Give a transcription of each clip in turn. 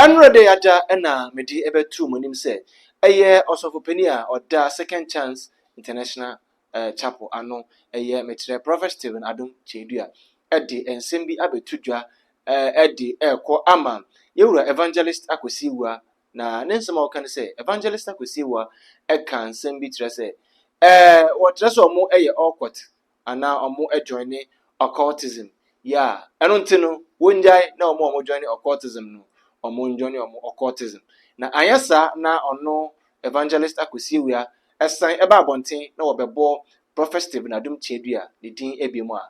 Ɛnnora dɛ ada na mede bɛto mo anim sɛ ɛyɛ ɔsɔfo panin a ɔda Second Chance International Chapel ano, ɛyɛ mekyerɛ Prophet Stephen Adom Kyei-Duah, de nsɛm bi abɛto dwa de rekɔ ama yɛn wura Evangelist Akwasi Awuah, na ne nsɛm a ɔka ne sɛ, Evangelist Akwasi Awuah ka nsɛm bi kyerɛ sɛ wɔkyerɛ sɛ wɔyɛ awkward anaa ɔmo ɛjoine occultism yeah ɛno nti no wongyae na ɔmo ɔmo joine occultism no ɔmo njoine ɔmo occultism na anyɛ saa na ɔno evangelist akosiewia ɛsan ɛba abɔnten na wɔbɛbɔ prophet steven adom kyeadua ne din ɛbiom a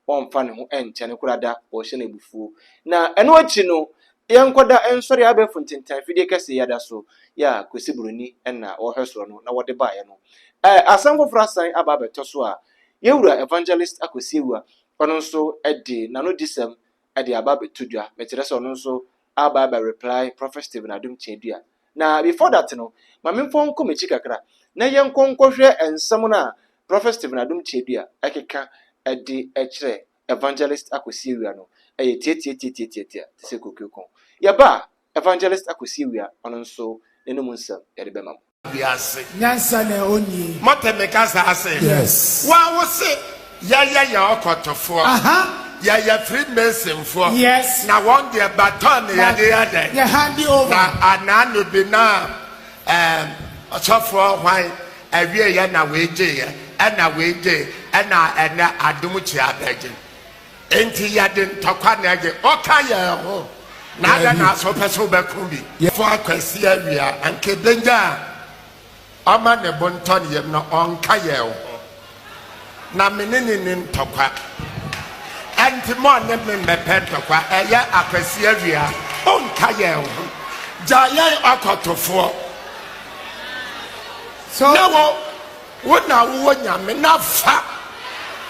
wɔnfa ne ho ɛnkyɛ no kora da wɔhyɛ no abufuo na ɛno akyi no Yɛn nkɔda nsɔre abɛɛfo ntentan fidie kɛse yi ada so yi a Kwesi Buroni na ɔhwɛ soɔ no na wɔde baeɛ no ɛ asɛm foforɔ asan aba abɛtɔ so a Yɛwura Evangelist Akwasiawua ɔno nso de n'anodisɛm de aba abɛto dwa mekyerɛ sɛ ɔno nso aba abɛ reply Prophet Stephen Adom Kyeadua na before that no ma memfa nkɔ m'akyi kakra na yɛnkɔ nkɔhwɛ nsɛm no a Prophet Stephen Adom Kyeadua ɛkeka de kyerɛ Evangelist Akosua-Awia no yɛ tiatiatiatiatia te sɛ kokreko. Yɛba a, Evangelist Akosua-Awia, ɔno nso, n'anom nsɛm yɛde bɛma mo. Wiase. Nyansa na ɛwɔ nie. Mote me kasa ase? Yes. Wo a wo se yɛyɛ yɛ ɔkɔtofoɔ. Aha. Yɛyɛ Freemasonfoɔ. Yes. Na wɔn deɛ baton na yɛde yɛ dɛn? Yɛ hande over. Na anaa no bi na ɛɛm ɔsɔfoɔ hwan? Awiei ɛna wei gyeeɛ, ɛna wei gyee, ɛna ɛnɛ adom kyea bɛgye. Enti yɛde ntɔkwa na ɛgye. Woka yɛn ho, na adɛn na so wopɛ sɛ wobɛko bi? Fua Kwasi Awia, anka ɛbɛnya a ɔma ne bo ntɔ ne yam no, ɔnka yɛn ho. Na me ne no nni ntɔkwa. Ɛnti mo a ne me mmɛpɛ ntɔkwa, ɛyɛ akwasi awia, ɔnka yɛn ho. Gyaa yɛn ɔkɔtofoɔ. So. Na wo, wo na wowɔ Nyame na fa.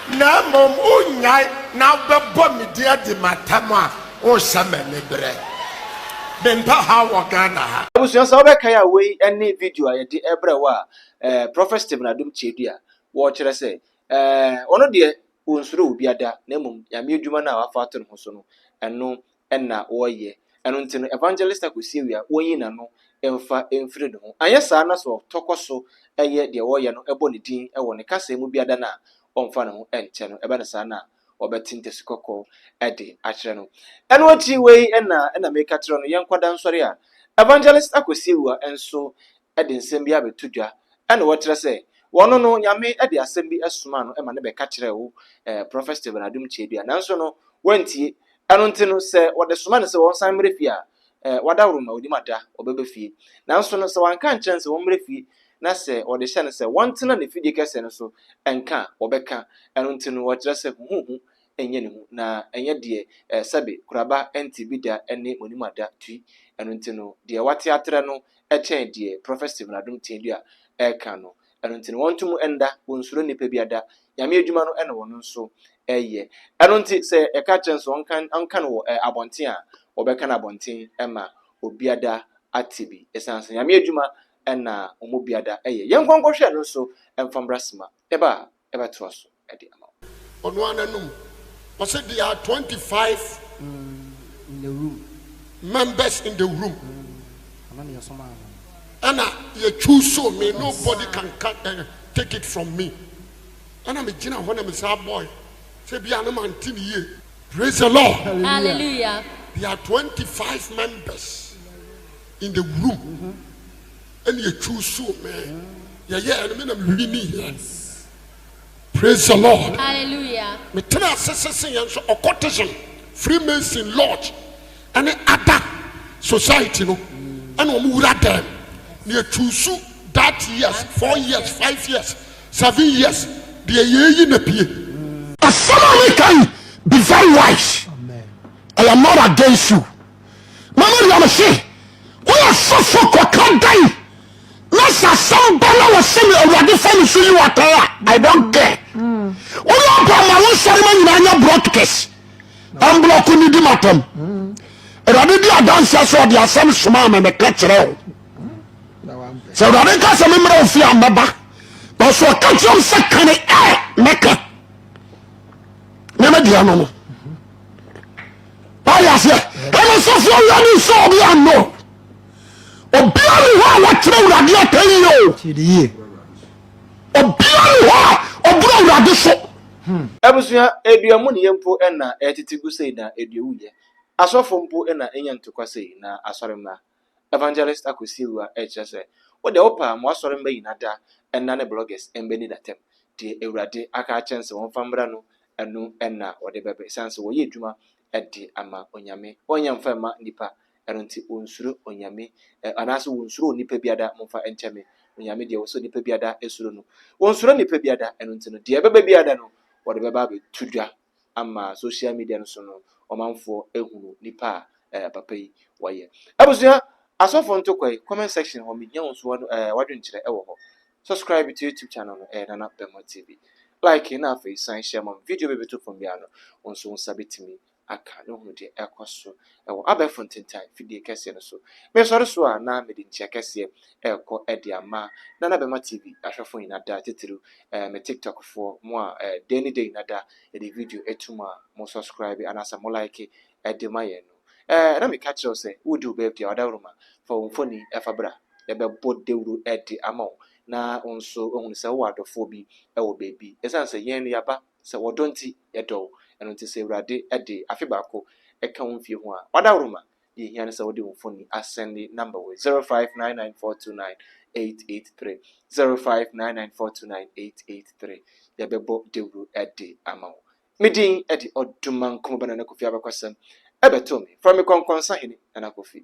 Na mmom wonyae na wobɛbɔ me din adi m'atam a, worehyɛ me aniberɛ. Mempɛ haw wɔ Ghana ha. Abusua sɛ wobɛkae a wei ne video a yɛde brɛ wo a eh, Prɔfɛt Stephen Adom Kyerɛdua, wɔkyerɛ sɛ, eh, ɔno deɛ ɔnsuro obia da, na mmom Nyame adwuma no a wafa ato ne ho so no, ɛno na ɔyɛ. Ɛno nti no, Evangelist Akosiewi a ɔnyi n'ano mfa mfiri ne ho. Anyɛ saa na sɛ ɔtɔkɔ so yɛ deɛ ɔyɛ no, bɔ ne din wɔ ne kaseɛ mu biada no a, ɔmfa ne ho nkyɛ no, ɛba no saa no a, wɔbɛte ntasi kɔkɔɔ de akyerɛ no. Ɛno akyi wei na na meka kyerɛ no, yɛn nkwadaa nsɔre a Evangelist Akwasi Awuah nso de nsɛm bi abɛto dwa na wɔkyerɛ sɛ ɔno no Nyame de asɛm bi somaa no ma no bɛka kyerɛɛ wo Prɔfɛt Stephen Adom Kyedua nanso no wantie. Ɛno nti no sɛ wɔde soma no sɛ ɔnsan mmra fie a Ɛɛ, wadaworo ma onim ada ɔbɛba fie. Nanso no, sɛ wanka ankyerɛ no sɛ wɔmmrɛ fie na sɛ ɔde hyɛ no sɛ wɔntena n'afidie kɛseɛ no so nka a, ɔbɛka. Ɛno nti no, wɔkyerɛ sɛ huhuhu nyɛ ne hu, na ɛnyɛ deɛ ɛɛ sɛbe kuraba nte bi da ne monim ada tui. Ɛno nti no, deɛ wate atrɛ no kyɛn deɛ Prɔfɛt Stephen Adom Tiadua reka no. Ɛno nti no wɔnto mu nda, wɔnsuro nnipa biada. Nyame adwuma no na wɔn nso yɛ. Ɛno nti sɛ yɛka kyerɛ nso ɔnka no wɔ abɔnten a, wɔbɛka no abɔnten ma obiada ate bi. Ɛsiane sɛ Nyame adwuma na wɔn mu biada yɛ. Yɛnkɔ nkɔhwɛ no nso mfa mmra sima. Ɛbaa. bɛtoa so de ama wo. Ɔno ara n'anom. Ɔse there are twenty five members in the room ɛna yɛ choose me nobody can cut and take it from me ɛna me gyina hɔ na me saa boy sɛ bi a ne ma nti ne yie. Praise the Lord. Hallelujah. There are twenty five members in the room. ɛna ɛtwiw soo me yɛyɛ ɛne me na mehwiri ne hia praise the lord metena ase sese yɛn nso occultism freemason lodge ɛne ada society no ɛna ɔmo wura dɛm na ɛtwiw so that years four years five years seven years deɛ yɛyi na pie asɛm a meka yi be very wise I am not against you mama nua me se woyɛ sɔfo kɔka dan na sɛ asɛm ba na wɔse me awurade fa ne so yi watan a i don't care woyɛ ɔba ma wo nsɛre ma nyinaa nyɛ broadcast ɛmblɔko ne di matam awurade di adanseɛ sɛ ɔde asɛm somaa me meka kyerɛ wo sɛ awurade nka sɛ memmerɛ wo fie a mɛba nanso ɔka kyerɛ m sɛ kane ɛ mɛka na mɛdeɛ no no wade aseɛ ɛne sɔfoɔ wia ne nsɛ obi ano obia ne hɔ a wɔkyerɛ awurade atɛn yɛ o obia ne hɔ a ɔboro awurade so hmm. abusua adua mu ne yɛ mpo ɛna ɛtete gu sei na adua wuyɛ asɔfo mpo ɛna ɛnya ntokwa sei na asɔre mmra Evangelist Akwasi Awuah rekyerɛ sɛ, Wo deɛ wopɛ a ma w'asɔre mma nyina da nna ne bloggers mma nni da tam. Deɛ Awurade aka akyerɛ no sɛ wɔmfa mmra no, ɛno na wɔde bɛba ɛsiane sɛ wɔyɛ adwuma de ama Onyame. Wɔnyɛ mfa mma nnipa, ɛno nti wɔnsuro Onyame anaasɛ wɔnsuro onipa biada, momfa nkyɛ me, Onyame deɛ wɔsɛ onipa biada suro no. Wɔnsuro nnipa biada, ɛno nti no deɛ ɛbɛba biada no wɔde bɛba abɛto dwa ama social media no so no ɔmanfoɔ ahunu nipa a ɛɛ papa yi wɔyɛ. Abusua, asɔfoɔ ntokwa yi, comment section hɔ mehia wo nso w'ad ɛɛ w'adwenkyerɛ ɛwɔ hɔ. Subscribe to YouTube channel no ɛyɛ Nana Bɛmɔ TV. Like na afei san hyɛ ma me video bɛbɛto fam biara no wo nso wo nsa bɛtumi aka na wohunu deɛ ɛkɔ so wɔ abɛɛfo ntentan fidie kɛseɛ no so. Mesɔre so a na mede nkyia kɛseɛ rekɔ de ama Nana Bɛma TV ahwɛfo nyina da, titiriw me TikTok foɔ, mo a da ni da nyina da yɛde video to mu a mo sɔskraibe anaasɛ mo laeke de ma yɛn no. Na meka kyerɛ wo sɛ woredi wo birthday a ɔdawuroma fa wo mfoni fa bra yɛbɛbɔ dawuro de ama wo na wo nso woahunu sɛ wowɔ adɔfoɔ bi wɔ baabi. Ɛsiane sɛ yɛn no yɛaba. sɛ wɔ dɔ nti yɛdɔ wo, ɛno nti sɛ Awurade de afe baako ka wo mfie ho a, wadaworo ma, deɛ ɛhia ne sɛ wode wo mfoni asɛnde number wei, 0599429883, 0599429883, yɛbɛbɔ dawuro de ama wo. Me din de Odumankombo Nana Kofi Abakɔsɛm, ɛbɛtoo me, frɛ me Kɔnkɔnsa Hene Nana Kofi.